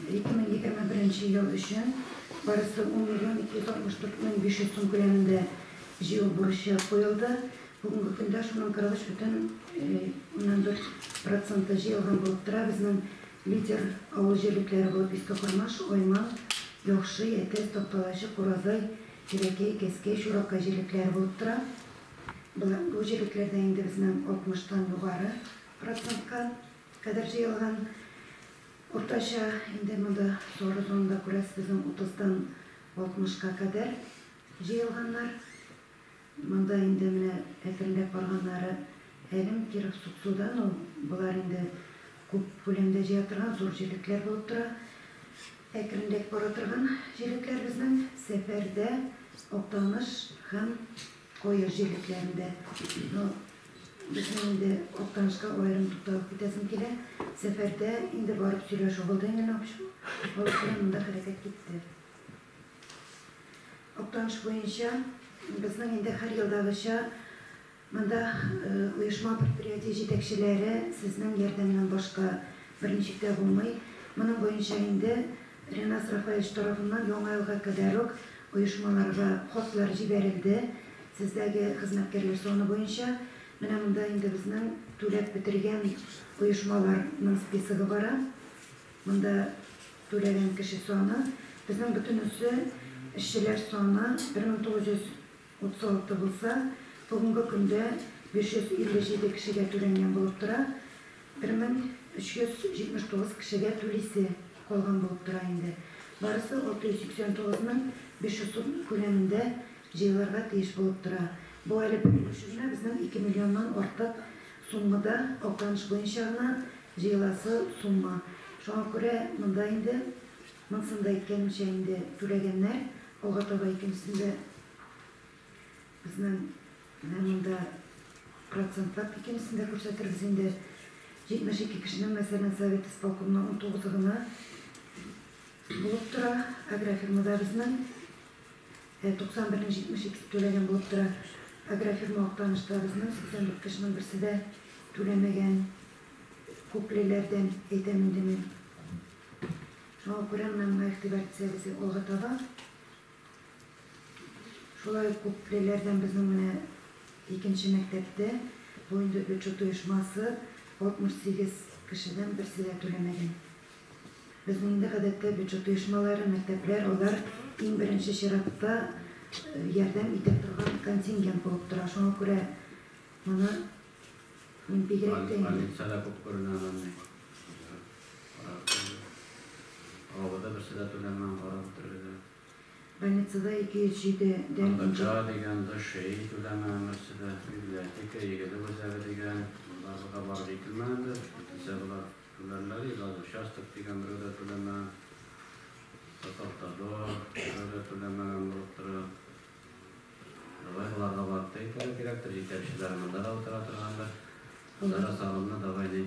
2021 ел өчен барысы 10 миллион 264 мең 500 сум күләмендә җыю бурычы куелды. Бүгенге көндә шуның 43,4 проценты җыелган булып тора. Безнең лидер авыл җирлекләре булып Иске Кормаш, Айман, Яхшы, Әтәс, Такталачы, Куразай, Кирәкәй, Кәскәй, Чуракай җирлекләре булып тора. Бу җирлекләрдә инде безнең 60 тан югары процентка кадәр җыелган. Уртача инде монда сары зонада күрәсез, безнең 30 тан 60 ка кадәр җыелганнар. Монда инде менә әкренләп барганнары Әлем, Киров, Суксуда, ну, болар инде күп күләмдә җыя торган зур җирлекләр булып тора. Әкренрәк бара торган җирлекләр безнең Сәфәрдә, Актаныш һәм Кое җирлекләрендә, ну, безнең инде Актанышка аерым тукталып китәсем килә. Сәфәрдә инде барып сөйләшү булды инде Нокчу. Алар белән монда хәрәкәт китте. Актаныш буенча безнең инде һәр елдагыча монда оешма предприятие җитәкчеләре сезнең ярдәмнән башка берничек тә булмый. Моның буенча инде Ренас Рафаевич тарафыннан Яңа елга кадәр үк оешмаларга хатлар җибәрелде. Сездәге хезмәткәрләр саны буенча менә монда инде безнең түләп бетергән оешмаларның списогы бара. Монда түләгән кеше саны. Безнең бөтенесе, эшчеләр саны, 1900. Утыз алты булса, бүгенге көндә 557 кешегә түләнгән булып тора, 1379 кешегә түлисе калган булып тора инде. Барысы 689 мең 500 сум күләмендә җыелырга тиеш булып тора. Бу әле бер өлеше генә, безнең 2 миллионнан артык сумма да Актаныш буенча гына җыеласы сумма. Шуңа күрә монда инде Монысын да әйткәнемчә инде түләгәннәр, алга таба икенчесен дә безнең менә монда процентлап икенчесен дә күрсәтербез инде. 72 кешенең, мәсәлән, совет исполкомына унтугызы гына булып тора, агрофирмада безнең 91нең 72се түләгән булып тора. Агрофирма Актанышта безнең 84 кешенең берсе дә түләмәгән, күклеләрдән әйтәм инде мин. Шуңа күрә менә моңа игътибар итсәгез, алга таба шулай ук күплеләрдән безнең менә икенче мәктәптә бу инде бюджет оешмасы 68 кешедән берсе дә түләмәгән. Безнең инде гадәттә бюджет оешмалары, мәктәпләр, алар иң беренче чиратта ярдәм итә торган контингент булып тора. Шуңа күрә моны Бигрәк тә инде. Больница да күп күренә аны андый. Аңа да берсе дә түләмәгән, карап бетерелгән. Больницада 207 дән инде. МВД дигән, ДШИ түләмәгән берсе дә. Библиотека, игелек үзәге дигән, боларда да барып җителмәгәндер. Җителсә болар түләрләр иде. Газ участок дигән берәү дә түләмәгән. Татавтодор берәү дә түләмәгән булып тора. Давай аларга барып та итәргә кирәктер, җитәкчеләре монда да утыра торгандыр. Анда да салымны давай ни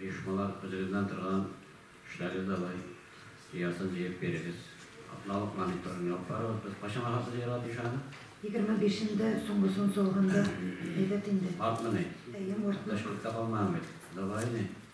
оешмалар үзегезнән торган эшләгез давай җыясын җыеп бирегез. Атналык мониторын ябып барыгыз. Без кайчан ахыргы җыярга тиеш аны? Егерме бишендә соңгысын салганда әйбәт инде. Мартмыни? Әйе, мартны. Анда эш күп тә калмаган бит. Давай ни.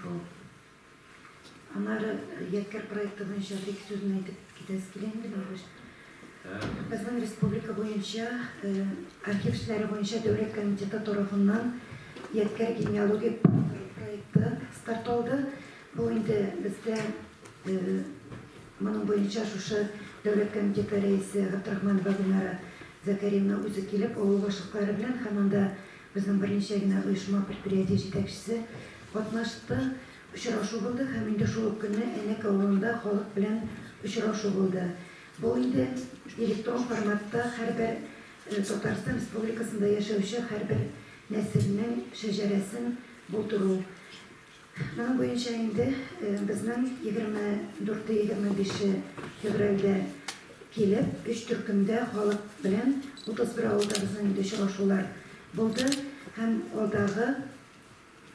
Шул. Аннары Ядкәр проекты буенча бик сүзен әйтеп китәсе килә инде, Бәйбеш. Безнең республика буенча архив эшләре буенча дәүләт комитеты тарафыннан Ядкәр генеалогик проекты старт алды. Бу инде бездә моның буенча шушы дәүләт комитеты рәисе Габдрахманова Гөлнара Зәкәриевна үзе килеп, авыл башлыклары белән һәм анда Безнең берничә генә оешма-предприятие җитәкчесе катнашты. Очрашу булды һәм инде шул ук көнне Әнәк авылында халык белән очрашу булды. Бу инде электрон форматта һәрбер Татарстан Республикасында яшәүче һәрбер нәселнең шәҗәрәсен булдыру. Моның буенча инде безнең 24-25 февральдә килеп, өч төркемдә халык белән 31 авылда безнең инде очрашулар булды һәм алдагы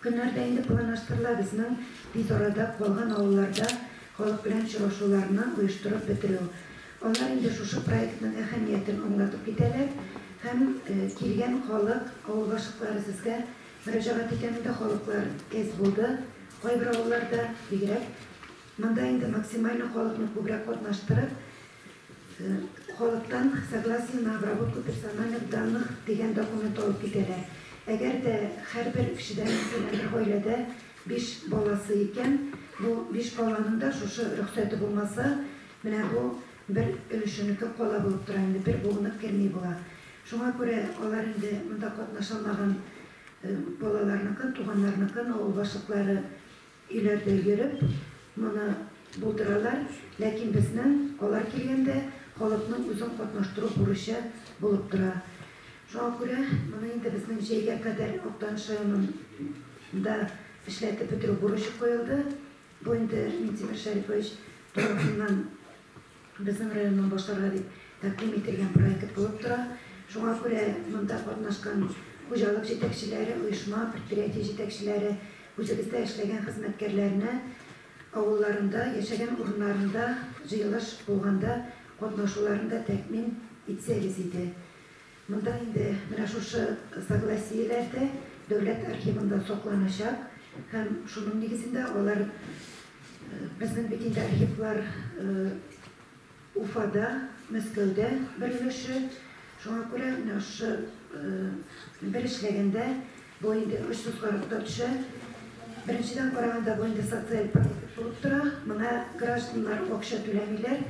көннәрдә инде планлаштырыла безнең тиз арада калган авылларда халык белән очрашуларны оештырып бетерү. Алар инде шушы проектның әһәмиятен аңлатып китәләр һәм килгән халык, авыл башлыклары сезгә Мөрәҗәгать иткәнендә халыклар әз булды, кайбер авылларда бигрәк. Монда инде максимально халыкны күбрәк катнаштырып, халыктан согласие на обработку персональных данных дигән документ алып китәләр. Әгәр дә һәрбер кешедә, мәсәлән, бер гаиләдә биш баласы икән, бу биш баланың да шушы рөхсәте булмаса, менә бу бер өлешенеке кала булып тора инде, бер буынып керми була. Шуңа күрә алар инде монда катнаша алмаган балаларныкын, туганнарныкын, авыл башлыклары өйләрдә йөреп, моны булдыралар. Ләкин безнең, алар килгәндә, халыкның үзен катнаштыру бурычы булып тора. Шуңа күрә моны инде безнең җәйгә кадәр Актаныш районында эшләтеп бетерү бурычы куелды. Бу инде Минтимер Шәрипович тарафыннан Безнең районның башларга дип тәкъдим ителгән проект булып тора. Шуңа күрә монда катнашкан хуҗалык җитәкчеләре, оешма, предприятие җитәкчеләре, үзебездә эшләгән хезмәткәрләрне авылларында, яшәгән урыннарында җыелыш булганда катнашуларын да тәэмин итсәгез иде. Монда инде менә шушы согласиеләр дә дәүләт архивында сакланачак һәм шуның нигезендә алар безнең бит инде архивлар Уфада, Мәскәүдә бер өлеше. Шуңа күрә менә шушы бер эшләгәндә бу инде өч тоткарлыкта төшә. Беренчедән караганда бу инде социаль проект булып тора. Моңа гражданнар акча түләмиләр.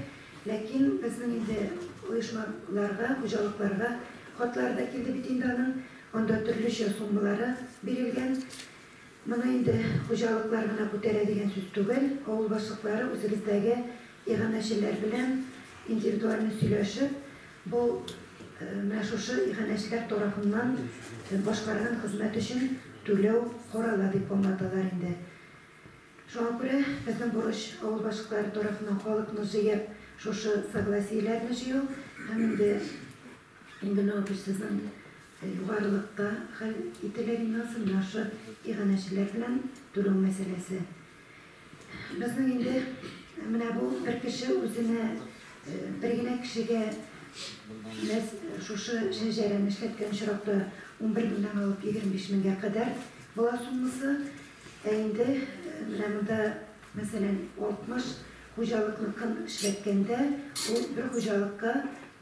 Ләкин безнең инде оешмаларга, хуҗалыкларга хатлар да килде бит инде аның, анда төрлечә суммалары бирелгән. Моны инде хуҗалыклар гына күтәрә дигән сүз түгел, авыл башлыклары үзебездәге иганәчеләр белән индивидуаль сөйләшеп, бу менә шушы иганәчеләр тарафыннан башкарган хезмәт өчен түләү карала дип аңлаталар инде. Шуңа күрә безнең бурыч, авыл башлыклары тарафыннан халыкны җыеп, шушы согласиеләрне җыю һәм инде инде ну без сезнең югарылыкта хәл ителер инде ансы, менә шушы иганәчеләр белән түләү мәсьәләсе. Безнең инде менә бу бер кеше үзенә, бер генә кешегә мәс шушы шәҗәрәне эшләткән очракта унбер меңнән алып егерме биш меңгә кадәр була суммасы. Ә инде менә монда, мәсәлән, 60 хуҗалыкныкын эшләткәндә, ул бер хуҗалыкка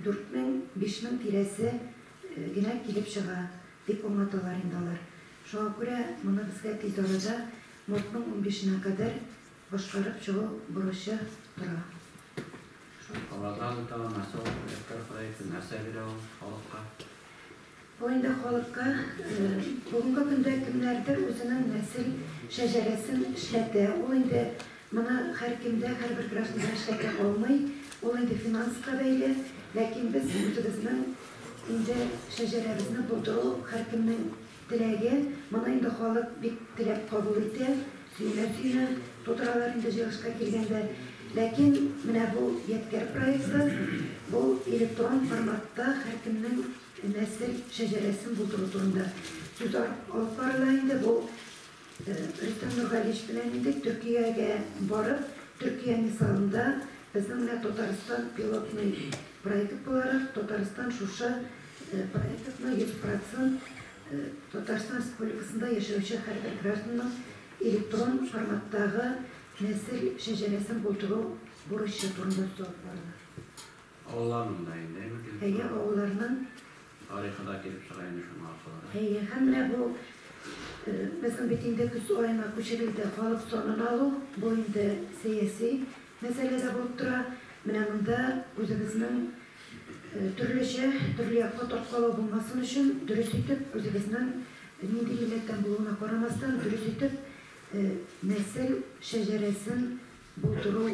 4000-5000 мең тирәсе генә килеп чыга, дип аңлаталар инде алар. Шуңа күрә моны безгә тиз арада мартның унбишенә кадәр Башкарып чыгу бурычы тора. Шул кабатлап үтәве нәрсә ул? Электрон проекты нәрсә бирә ул халыкка? Бу инде халыкка бүгенге көндә кемнәрдер үзенең нәсел шәҗәрәсен эшләтә. Ул инде моны һәркемдә, һәрбер гражданда эшләтә алмый. Ул инде финанска бәйле. Ләкин без үзебезнең инде шәҗәрәбезне булдыру һәркемнең Теләге, моны инде халык бик теләп кабул итә, сөенә-сөенә тутыралар инде җыелышка килгәндә. Ләкин менә бу ядкәр проекты, бу электрон форматта һәркемнең нәсел шәҗәрәсен булдыру турында сүз алып барыла инде. Бу. Рөстәм Нургалиевич белән инде Төркиягә барып, Төркия мисалында безнең менә Татарстан пилотный проект буларак, Татарстан шушы проектны 100% Татарстан Республикасында яшәүче һәрбер гражданның электрон форматтагы нәсел шәҗәрәсен булдыру бурычы турында сорап барды. Авылларның да инде, әйбәт килеп чыга. Әйе, авылларның. Тарихы да килеп чыга инде шуның аркылы. Әйе, һәм менә бу, безнең бит инде көз аена күчерелде, халык санын алу, бу инде сәяси мәсьәлә дә булып тора. Менә монда үзебезнең төрлечә, төрле якка тарткалау булмасын өчен, дөрес итеп, үзебезнең нинди милләттән булуына карамастан, дөрес итеп нәсел шәҗәрәсен, Булдыру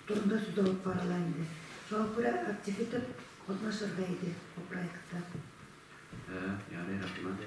турында сүз алып барыла инде. Шуңа күрә актив итеп катнашырга иде бу проектта. Ярый, рәхмәт.